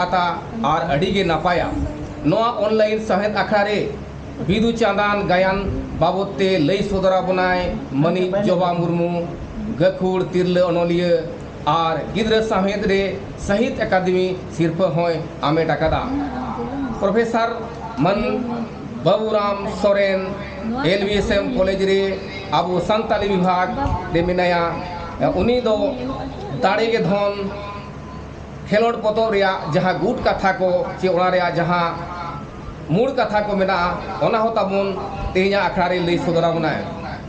ᱠᱟᱛᱟ ᱟᱨ ᱟᱹᱰᱤ ᱜᱮ ᱱᱟᱯᱟᱭᱟ᱾ ᱱᱚᱣᱟ ᱚᱱᱞᱟᱭᱤᱱ ᱥᱟᱶᱦᱮᱫ ᱟᱠᱷᱲᱟ ᱨᱮ ᱵᱤᱫᱩ ᱪᱟᱸᱫᱟᱱ ᱜᱟᱭᱟᱱ ᱵᱟᱵᱚᱛ ᱛᱮ ᱞᱟᱹᱭ ᱥᱚᱫᱚᱨ ᱟᱵᱚᱱᱟᱭ ᱢᱟᱹᱱᱤᱡ ᱡᱚᱵᱟ ᱢᱩᱨᱢᱩ, ᱜᱟᱹᱠᱷᱩᱲ ᱛᱤᱨᱞᱟᱹ ᱚᱱᱚᱞᱤᱭᱟᱹ ᱟᱨ ᱜᱤᱫᱽᱨᱟᱹ ᱥᱟᱶᱦᱮᱫ ᱨᱮ ᱥᱟᱦᱤᱛ ᱟᱠᱟᱫᱮᱢᱤ ᱥᱤᱨᱯᱷᱟᱹ ᱦᱚᱸᱭ ᱟᱢᱮᱴ ᱟᱠᱟᱫᱟ᱾ ᱯᱨᱚᱯᱷᱮᱥᱟᱨ ᱢᱟᱱ ᱵᱟᱵᱩᱨᱟᱢ ᱥᱚᱨᱮᱱ ᱮᱞᱵᱤᱮᱥᱮᱢ ᱠᱚᱞᱮᱡᱽ ᱨᱮ ᱟᱵᱚ ᱥᱟᱱᱛᱟᱞᱤ ᱵᱤᱵᱷᱟᱜᱽ ᱨᱮ ᱢᱮᱱᱟᱭᱟ᱾ ᱩᱱᱤ ᱫᱚ ᱫᱟᱲᱮ ᱜᱮ ᱫᱷᱚᱱ᱾ ᱠᱷᱮᱞᱚᱸᱰ ᱯᱚᱛᱚᱵ ᱨᱮᱭᱟᱜ ᱡᱟᱦᱟᱸ ᱜᱩᱴ ᱠᱟᱛᱷᱟ ᱠᱚ ᱪᱮ ᱚᱱᱟ ᱨᱮᱭᱟᱜ ᱡᱟᱦᱟᱸ ᱢᱩᱬ ᱠᱟᱛᱷᱟ ᱠᱚ ᱢᱮᱱᱟᱜᱼᱟ ᱚᱱᱟ ᱦᱚᱸ ᱛᱟᱵᱚᱱ ᱛᱮᱦᱮᱧᱟᱜ ᱟᱠᱷᱲᱟ ᱨᱮ ᱞᱟᱹᱭ ᱥᱚᱫᱚᱨ ᱟᱵᱚᱱᱟᱭ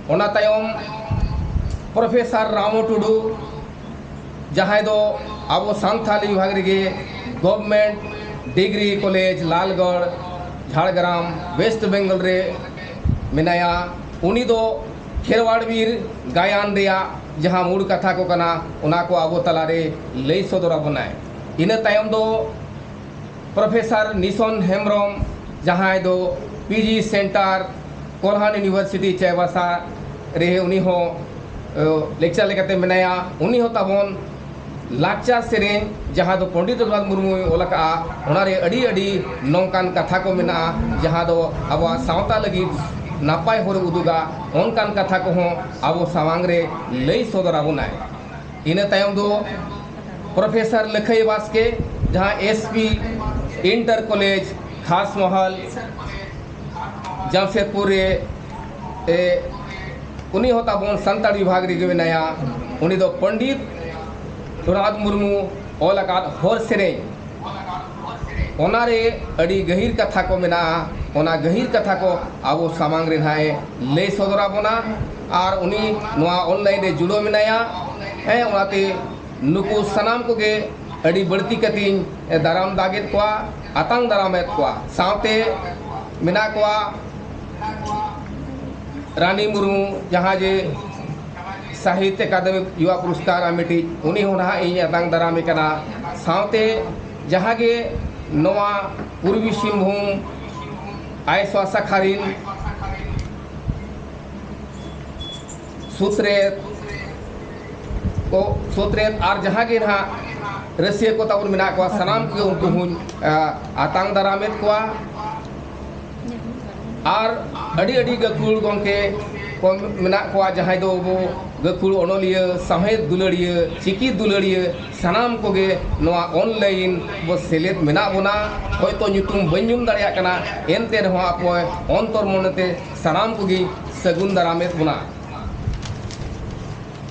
ᱚᱱᱟ ᱛᱟᱭᱚᱢ ᱯᱨᱚᱯᱷᱮᱥᱟᱨ ᱨᱟᱢᱚ ᱴᱩᱰᱩ ᱡᱟᱦᱟᱸᱭ ᱫᱚ ᱟᱵᱚ ᱥᱟᱱᱛᱷᱟᱞᱤ ᱵᱤᱵᱷᱟᱜᱽ ᱨᱮᱜᱮ government degree college Lalgarh Jhargram West Bengal ᱨᱮ ᱢᱮᱱᱟᱭᱟ ᱩᱱᱤ ᱫᱚ ᱠᱷᱮᱨᱣᱟᱲ ᱵᱤᱨ ᱜᱟᱭᱟᱱ ᱨᱮᱭᱟᱜ ᱡᱟᱦᱟᱸ ᱢᱩᱬ ᱠᱟᱛᱷᱟ ᱠᱚ ᱠᱟᱱᱟ ᱚᱱᱟ ᱠᱚ ᱟᱵᱚ ᱛᱟᱞᱟ ᱨᱮ ᱞᱟᱹᱭ ᱥᱚᱫᱚᱨ ᱟᱵᱚᱱᱟᱭ ᱤᱱᱟᱹ ᱛᱟᱭᱚᱢ ᱫᱚ ᱯᱨᱚᱯᱷᱮᱥᱟᱨ ᱱᱤᱥᱚᱱ ᱦᱮᱢᱵᱨᱚᱢ ᱡᱟᱦᱟᱸᱭ ᱫᱚ P G centre Kolhan university Chaibasa ᱨᱮ ᱩᱱᱤ ᱦᱚᱸ ᱞᱮᱠᱪᱟᱨ ᱞᱮᱠᱟᱛᱮ ᱢᱮᱱᱟᱭᱟ ᱩᱱᱤ ᱦᱚᱸ ᱛᱟᱵᱚᱱ ᱞᱟᱠᱪᱟᱨ ᱥᱮᱨᱮᱧ ᱡᱟᱦᱟᱸ ᱫᱚ ᱯᱚᱱᱰᱤᱛ ᱨᱚᱜᱷᱩᱱᱟᱛᱷ ᱢᱩᱨᱢᱩᱭ ᱚᱞ ᱟᱠᱟᱫᱼᱟ ᱚᱱᱟ ᱨᱮ ᱟᱹᱰᱤ ᱟᱹᱰᱤ ᱱᱚᱝᱠᱟᱱ ᱠᱟᱛᱷᱟ ᱠᱚ ᱢᱮᱱᱟᱜᱼᱟ ᱡᱟᱦᱟᱸ ᱫᱚ ᱟᱵᱚᱣᱟᱜ ᱥᱟᱶᱛᱟ ᱞᱟᱹᱜᱤᱫ ᱱᱟᱯᱟᱭ ᱦᱚᱨ ᱮ ᱩᱫᱩᱜᱟ ᱚᱱᱠᱟᱱ ᱠᱟᱛᱷᱟ ᱠᱚᱦᱚᱸ ᱟᱵᱚ ᱥᱟᱢᱟᱝ ᱨᱮ ᱞᱟᱹᱭ ᱥᱚᱫᱚᱨ ᱟᱵᱚᱱᱟᱭ ᱤᱱᱟᱹ ᱛᱟᱭᱚᱢ ᱫᱚ ᱯᱨᱚᱯᱷᱮᱥᱚᱨ ᱞᱟᱹᱠᱷᱟᱹᱭ ᱵᱟᱥᱠᱮ ᱡᱟᱦᱟᱸᱭ S P inter college Khas Mahal Jamshedpur ᱨᱮ ᱩᱱᱤ ᱦᱚᱸ ᱛᱟᱵᱚᱱ ᱥᱟᱱᱛᱟᱲ ᱵᱤᱵᱷᱟᱜᱽ ᱨᱮᱜᱮ ᱢᱮᱱᱟᱭᱟ ᱩᱱᱤ ᱫᱚ ᱯᱚᱱᱰᱤᱛ ᱨᱚᱜᱷᱩᱱᱟᱛᱷ ᱢᱩᱨᱢᱩ ᱚᱞ ᱟᱠᱟᱫ ᱦᱚᱲ ᱥᱮᱨᱮᱧ ᱚᱱᱟ ᱨᱮ ᱟᱹᱰᱤ ᱜᱟᱹᱦᱤᱨ ᱠᱟᱛᱷᱟ ᱠᱚ ᱢᱮᱱᱟᱜᱼᱟ ᱚᱱᱟ ᱜᱟᱹᱦᱤᱨ ᱠᱟᱛᱷᱟ ᱠᱚ ᱟᱵᱚ ᱥᱟᱢᱟᱝ ᱨᱮ ᱱᱟᱦᱟᱜ ᱮ ᱞᱟᱹᱭ ᱥᱚᱫᱚᱨ ᱟᱵᱚᱱᱟ ᱟᱨ ᱩᱱᱤ ᱱᱚᱣᱟ ᱚᱱᱞᱟᱭᱤᱱ ᱨᱮ ᱡᱩᱲᱟᱹᱣ ᱢᱮᱱᱟᱭᱟ ᱦᱮᱸ ᱚᱱᱟᱛᱮ ᱱᱩᱠᱩ ᱥᱟᱱᱟᱢ ᱠᱚᱜᱮ ᱟᱹᱰᱤ ᱵᱟᱹᱲᱛᱤ ᱠᱟᱛᱮᱧ ᱫᱟᱨᱟᱢ ᱫᱟᱜᱮᱫ ᱠᱚᱣᱟ ᱟᱛᱟᱝ ᱫᱟᱨᱟᱢᱮᱫ ᱠᱚᱣᱟ ᱥᱟᱶᱛᱮ ᱢᱮᱱᱟᱜ ᱠᱚᱣᱟ ᱨᱟᱱᱤ ᱢᱩᱨᱢᱩ ᱡᱟᱦᱟᱸ ᱡᱮ ᱥᱟᱦᱤᱛ ᱟᱠᱟᱫᱮᱢᱤ ᱭᱩᱣᱟ ᱯᱩᱨᱚᱥᱠᱟᱨ ᱟᱢᱮᱴᱤᱡ ᱩᱱᱤ ᱦᱚᱸ ᱱᱟᱦᱟᱜ ᱤᱧ ᱟᱛᱟᱝ ᱫᱟᱨᱟᱢᱮ ᱠᱟᱱᱟ ᱥᱟᱶᱛᱮ ᱡᱟᱦᱟᱸ ᱜᱮ ᱱᱚᱣᱟ ᱯᱩᱨᱵᱤ ᱥᱤᱝᱵᱷᱩᱢ ᱟᱭᱮᱥ ᱣᱟᱥᱟᱠᱷᱟ ᱨᱤᱱ ᱥᱩᱛᱨᱮᱛ ᱠᱚ ᱥᱩᱛᱨᱮᱛ ᱟᱨ ᱡᱟᱦᱟᱸ ᱜᱮ ᱱᱟᱦᱟᱜ ᱨᱟᱹᱥᱭᱟᱹ ᱠᱚ ᱛᱟᱵᱚᱱ ᱢᱮᱱᱟᱜ ᱠᱚᱣᱟ ᱥᱟᱱᱟᱢ ᱠᱚᱜᱮ ᱩᱱᱠᱩ ᱦᱚᱧ ᱟᱛᱟᱝ ᱫᱟᱨᱟᱢᱮᱫ ᱠᱚᱣᱟ ᱟᱨ ᱟᱹᱰᱤ ᱟᱹᱰᱤ ᱜᱟᱹᱠᱷᱩᱲ ᱜᱚᱢᱠᱮ ᱠᱚ ᱢᱮᱱᱟᱜ ᱠᱚᱣᱟ ᱡᱟᱦᱟᱸᱭ ᱫᱚ ᱟᱵᱚ ᱜᱟᱹᱠᱷᱩᱲ ᱚᱱᱚᱞᱤᱭᱟᱹ ᱥᱟᱶᱦᱮᱫ ᱫᱩᱞᱟᱹᱲᱤᱭᱟᱹ ᱪᱤᱠᱤ ᱫᱩᱞᱟᱹᱲᱤᱭᱟᱹ ᱥᱟᱱᱟᱢ ᱠᱚᱜᱮ ᱱᱚᱣᱟ ᱚᱱᱞᱟᱭᱤᱱ ᱵᱚ ᱥᱮᱞᱮᱫ ᱢᱮᱱᱟᱜ ᱵᱚᱱᱟ ᱦᱚᱭᱛᱳ ᱧᱩᱛᱩᱢ ᱵᱟᱹᱧ ᱧᱩᱢ ᱫᱟᱲᱮᱭᱟᱜ ᱠᱟᱱᱟ ᱮᱱᱛᱮ ᱨᱮᱦᱚᱸ ᱟᱯᱮ ᱚᱱᱛᱚᱨ ᱢᱚᱱᱮᱛᱮ ᱥᱟᱱᱟᱢ ᱠᱚᱜᱮ ᱥᱟᱹᱜᱩᱱ ᱫᱟᱨᱟᱢᱮᱫ ᱵᱚᱱᱟ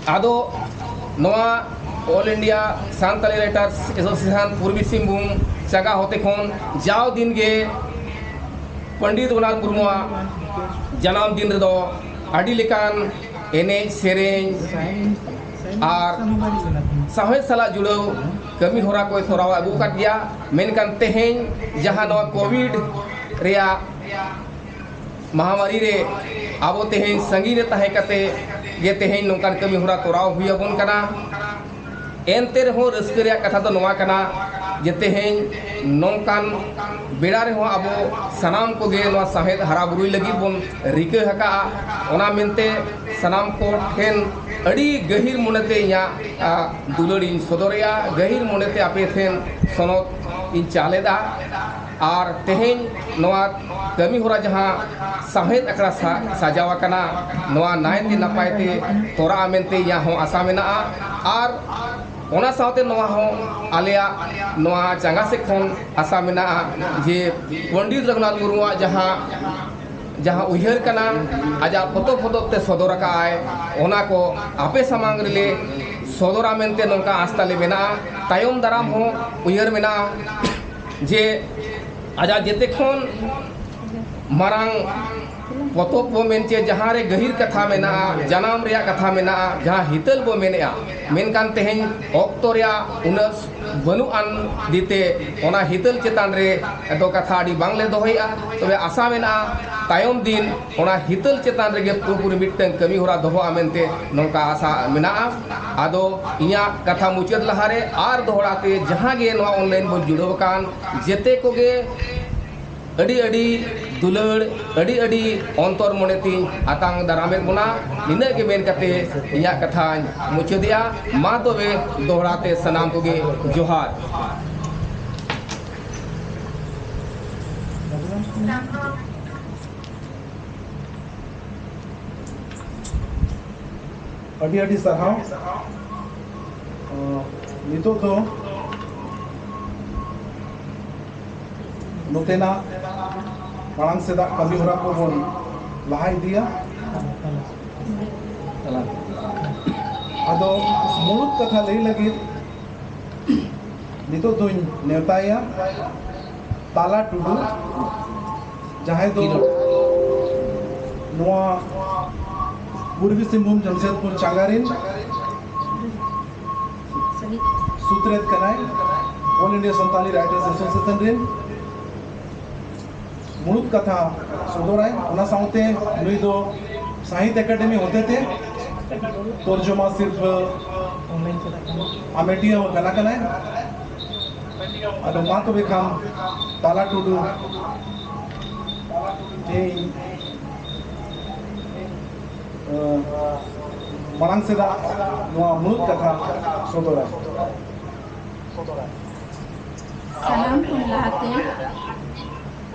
ᱟᱫᱚ ᱱᱚᱣᱟ all India Santali writers association Purbi Singhbhum ᱪᱟᱸᱜᱟ ᱦᱚᱛᱮ ᱠᱷᱚᱱ ᱡᱟᱣ ᱫᱤᱱ ᱜᱮ ᱯᱚᱱᱰᱤᱛ ᱨᱚᱜᱷᱩᱱᱟᱛᱷ ᱢᱩᱨᱢᱩᱣᱟᱜ ᱡᱟᱱᱟᱢ ᱫᱤᱱ ᱨᱮᱫᱚ ᱟᱹᱰᱤ ᱞᱮᱠᱟᱱ ᱮᱱᱮᱡ ᱥᱮᱨᱮᱧ ᱟᱨ ᱥᱟᱶᱦᱮᱫ ᱥᱟᱞᱟᱜ ᱡᱩᱲᱟᱹᱣ ᱠᱟᱹᱢᱤ ᱦᱚᱨᱟ ᱠᱚᱭ ᱛᱚᱨᱟᱣ ᱟᱹᱜᱩ ᱟᱠᱟᱫ ᱜᱮᱭᱟ ᱢᱮᱱᱠᱷᱟᱱ ᱛᱮᱦᱮᱧ ᱡᱟᱦᱟᱸ ᱱᱚᱣᱟ ᱠᱳᱵᱷᱤᱰ ᱨᱮᱭᱟᱜ ᱢᱟᱦᱟᱢᱟᱨᱤ ᱨᱮ ᱟᱵᱚ ᱛᱮᱦᱮᱧ ᱥᱟᱺᱜᱤᱧ ᱨᱮ ᱛᱟᱦᱮᱸ ᱠᱟᱛᱮ ᱜᱮ ᱛᱮᱦᱮᱧ ᱱᱚᱝᱠᱟᱱ ᱠᱟᱹᱢᱤ ᱦᱚᱨᱟ ᱛᱚᱨᱟᱣ ᱦᱩᱭ ᱟᱵᱚᱱ ᱠᱟᱱᱟ ᱮᱱᱛᱮ ᱨᱮᱦᱚᱸ ᱨᱟᱹᱥᱠᱟᱹ ᱨᱮᱭᱟᱜ ᱠᱟᱛᱷᱟ ᱫᱚ ᱱᱚᱣᱟ ᱠᱟᱱᱟ ᱡᱮ ᱛᱮᱦᱮᱧ ᱱᱚᱝᱠᱟᱱ ᱵᱮᱲᱟ ᱨᱮᱦᱚᱸ ᱟᱵᱚ ᱥᱟᱱᱟᱢ ᱠᱚᱜᱮ ᱱᱚᱣᱟ ᱥᱟᱶᱦᱮᱫ ᱦᱟᱨᱟ ᱵᱩᱨᱩᱭ ᱞᱟᱹᱜᱤᱫ ᱵᱚᱱ ᱨᱤᱠᱟᱹ ᱟᱠᱟᱫᱼᱟ ᱚᱱᱟ ᱢᱮᱱᱛᱮ ᱥᱟᱱᱟᱢ ᱠᱚ ᱴᱷᱮᱱ ᱟᱹᱰᱤ ᱜᱟᱹᱦᱤᱨ ᱢᱚᱱᱮᱛᱮ ᱤᱧᱟᱹᱜ ᱫᱩᱞᱟᱹᱲ ᱤᱧ ᱥᱚᱫᱚᱨᱮᱜᱼᱟ ᱜᱟᱹᱦᱤᱨ ᱢᱚᱱᱮᱛᱮ ᱟᱯᱮ ᱴᱷᱮᱱ ᱥᱚᱱᱚᱛ ᱤᱧ ᱪᱟᱞ ᱮᱫᱟ ᱟᱨ ᱛᱮᱦᱮᱧ ᱱᱚᱣᱟ ᱠᱟᱹᱢᱤ ᱦᱚᱨᱟ ᱡᱟᱦᱟᱸ ᱥᱟᱶᱦᱮᱫ ᱟᱠᱷᱲᱟ ᱥᱟᱡᱟᱣ ᱟᱠᱟᱱᱟ ᱱᱚᱣᱟ ᱱᱟᱭᱛᱮ ᱱᱟᱯᱟᱭᱛᱮ ᱛᱚᱨᱟᱜᱼᱟ ᱢᱮᱱᱛᱮ ᱤᱧᱟᱹᱜ ᱦᱚᱸ ᱟᱥᱟ ᱢᱮᱱᱟᱜᱼᱟ ᱟᱨ ᱚᱱᱟ ᱥᱟᱶᱛᱮ ᱱᱚᱣᱟ ᱦᱚᱸ ᱟᱞᱮᱭᱟᱜ ᱱᱚᱣᱟ ᱪᱟᱸᱜᱟ ᱥᱮᱫ ᱠᱷᱚᱱ ᱟᱥᱟ ᱢᱮᱱᱟᱜᱼᱟ ᱡᱮ ᱯᱚᱱᱰᱤᱛ ᱨᱟᱹᱜᱷᱩᱱᱟᱛᱷ ᱢᱩᱨᱢᱩᱣᱟᱜ ᱡᱟᱦᱟᱸ ᱡᱟᱦᱟᱸ ᱩᱭᱦᱟᱹᱨ ᱠᱟᱱᱟ ᱟᱡᱟᱜ ᱯᱚᱛᱚᱵ ᱯᱚᱛᱚᱵ ᱛᱮ ᱥᱚᱫᱚᱨ ᱟᱠᱟᱫ ᱟᱭ ᱚᱱᱟ ᱠᱚ ᱟᱯᱮ ᱥᱟᱢᱟᱝ ᱨᱮᱞᱮ ᱥᱚᱫᱚᱨᱟ ᱢᱮᱱᱛᱮ ᱱᱚᱝᱠᱟ ᱟᱥ ᱛᱟᱞᱮ ᱢᱮᱱᱟᱜᱼᱟ ᱛᱟᱭᱚᱢ ᱫᱟᱨᱟᱢ ᱦᱚᱸ ᱩᱭᱦᱟᱹᱨ ᱢᱮᱱᱟᱜᱼᱟ ᱡᱮ ᱟᱡᱟᱜ ᱡᱮᱛᱮ ᱠᱷᱚᱱ ᱢᱟᱨᱟᱝ ᱯᱚᱛᱚᱵ ᱵᱚ ᱢᱮᱱ ᱪᱮ ᱡᱟᱦᱟᱸ ᱨᱮ ᱜᱟᱹᱦᱤᱨ ᱠᱟᱛᱷᱟ ᱢᱮᱱᱟᱜᱼᱟ ᱡᱟᱱᱟᱢ ᱨᱮᱭᱟᱜ ᱠᱟᱛᱷᱟ ᱢᱮᱱᱟᱜᱼᱟ ᱡᱟᱦᱟᱸ ᱦᱤᱛᱟᱹᱞ ᱵᱚ ᱢᱮᱱᱮᱜᱼᱟ ᱢᱮᱱᱠᱷᱟᱱ ᱛᱮᱦᱮᱧ ᱚᱠᱛᱚ ᱨᱮᱭᱟᱜ ᱩᱱᱟᱹᱜ ᱵᱟᱹᱱᱩᱜ ᱟᱱ ᱫᱤᱛᱮ ᱚᱱᱟ ᱦᱤᱛᱟᱹᱞ ᱪᱮᱛᱟᱱ ᱨᱮ ᱫᱚ ᱠᱟᱛᱷᱟ ᱟᱹᱰᱤ ᱵᱟᱝᱞᱮ ᱫᱚᱦᱚᱭᱮᱜᱼᱟ ᱛᱚᱵᱮ ᱟᱥᱟ ᱢᱮᱱᱟᱜᱼᱟ ᱛᱟᱭᱚᱢ ᱫᱤᱱ ᱚᱱᱟ ᱦᱤᱛᱟᱹᱞ ᱪᱮᱛᱟᱱ ᱨᱮᱜᱮ ᱯᱩᱨᱟᱹᱯᱩᱨᱤ ᱢᱤᱫᱴᱟᱝ ᱠᱟᱹᱢᱤ ᱦᱚᱨᱟ ᱫᱚᱦᱚᱜᱼᱟ ᱢᱮᱱᱛᱮ ᱱᱚᱝᱠᱟ ᱟᱥᱟ ᱢᱮᱱᱟᱜᱼᱟ ᱟᱫᱚ ᱤᱧᱟᱹᱜ ᱠᱟᱛᱷᱟ ᱢᱩᱪᱟᱹᱫ ᱞᱟᱦᱟᱨᱮ ᱟᱨ ᱫᱚᱦᱲᱟ ᱛᱮ ᱡᱟᱦᱟᱸ ᱜᱮ ᱱᱚᱣᱟ ᱚᱱᱞᱟᱭᱤᱱ ᱵᱚᱱ ᱡᱩᱲᱟᱹᱣ ᱟᱠᱟᱱ ᱡᱮᱛᱮ ᱠᱚᱜᱮ ᱟᱹᱰᱤ ᱟᱹᱰᱤ ᱫᱩᱞᱟᱹᱲ ᱟᱹᱰᱤ ᱟᱹᱰᱤ ᱚᱱᱛᱚᱨ ᱢᱚᱱᱮ ᱛᱤᱧ ᱟᱛᱟᱝ ᱫᱟᱨᱟᱢᱮᱫ ᱵᱚᱱᱟ ᱱᱤᱱᱟᱹᱜ ᱜᱮ ᱢᱮᱱ ᱠᱟᱛᱮ ᱤᱧᱟᱹᱜ ᱠᱟᱛᱷᱟᱧ ᱢᱩᱪᱟᱹᱫᱮᱜᱼᱟ ᱢᱟ ᱛᱚᱵᱮ ᱫᱚᱦᱲᱟ ᱛᱮ ᱥᱟᱱᱟᱢ ᱠᱚᱜᱮ ᱡᱚᱦᱟᱨ ᱛᱟᱢ ᱫᱚ ᱟᱹᱰᱤ ᱟᱹᱰᱤ ᱥᱟᱨᱦᱟᱣ ᱱᱤᱛᱚᱜ ᱫᱚ ᱱᱚᱛᱮᱱᱟᱜ ᱢᱟᱲᱟᱝ ᱥᱮᱫᱟᱜ ᱠᱟᱹᱢᱤ ᱦᱚᱨᱟ ᱠᱚᱵᱚᱱ ᱞᱟᱦᱟ ᱤᱫᱤᱭᱟ ᱟᱫᱚ ᱢᱩᱬᱩᱛ ᱠᱟᱛᱷᱟ ᱞᱟᱹᱭ ᱞᱟᱹᱜᱤᱫ ᱱᱤᱛᱚᱜ ᱫᱚᱧ ᱱᱮᱣᱛᱟᱭᱟ ᱛᱟᱞᱟ ᱴᱩᱰᱩ ᱡᱟᱦᱟᱸᱭ ᱫᱚ ᱠᱷᱮᱞᱳᱰ ᱱᱚᱣᱟ ᱯᱩᱨᱵᱤ ᱥᱤᱝᱵᱷᱩᱢ ᱡᱟᱢᱥᱮᱫᱽᱯᱩᱨ ᱪᱟᱸᱜᱟ ᱨᱮᱱ ᱥᱩᱛᱨᱮᱛ ᱠᱟᱱᱟᱭ all India Santali writers association ᱨᱮᱱ ᱢᱩᱬᱩᱛ ᱠᱟᱛᱷᱟ ᱥᱚᱫᱚᱨᱟᱭ ᱚᱱᱟ ᱥᱟᱶᱛᱮ ᱱᱩᱭ ᱫᱚ ᱥᱟᱦᱤᱛ ᱮᱠᱟᱰᱮᱢᱤ ᱦᱚᱛᱮᱛᱮ ᱛᱚᱨᱡᱚᱢᱟ ᱥᱤᱨᱯᱷᱟᱹ ᱟᱢᱮᱴᱤᱭᱟᱹ ᱦᱚᱸ ᱠᱟᱱᱟ ᱠᱟᱱᱟᱭ ᱟᱫᱚ ᱢᱟ ᱛᱚᱵᱮ ᱠᱷᱟᱱ ᱛᱟᱞᱟ ᱴᱩᱰᱩ ᱤᱧ ᱢᱟᱲᱟᱝ ᱥᱮᱫᱟᱜ ᱱᱚᱣᱟ ᱢᱩᱬᱩᱫ ᱠᱟᱛᱷᱟ ᱥᱚᱫᱚᱨᱟ ᱥᱟᱱᱟᱢ ᱠᱷᱚᱱ ᱞᱟᱦᱟᱛᱮ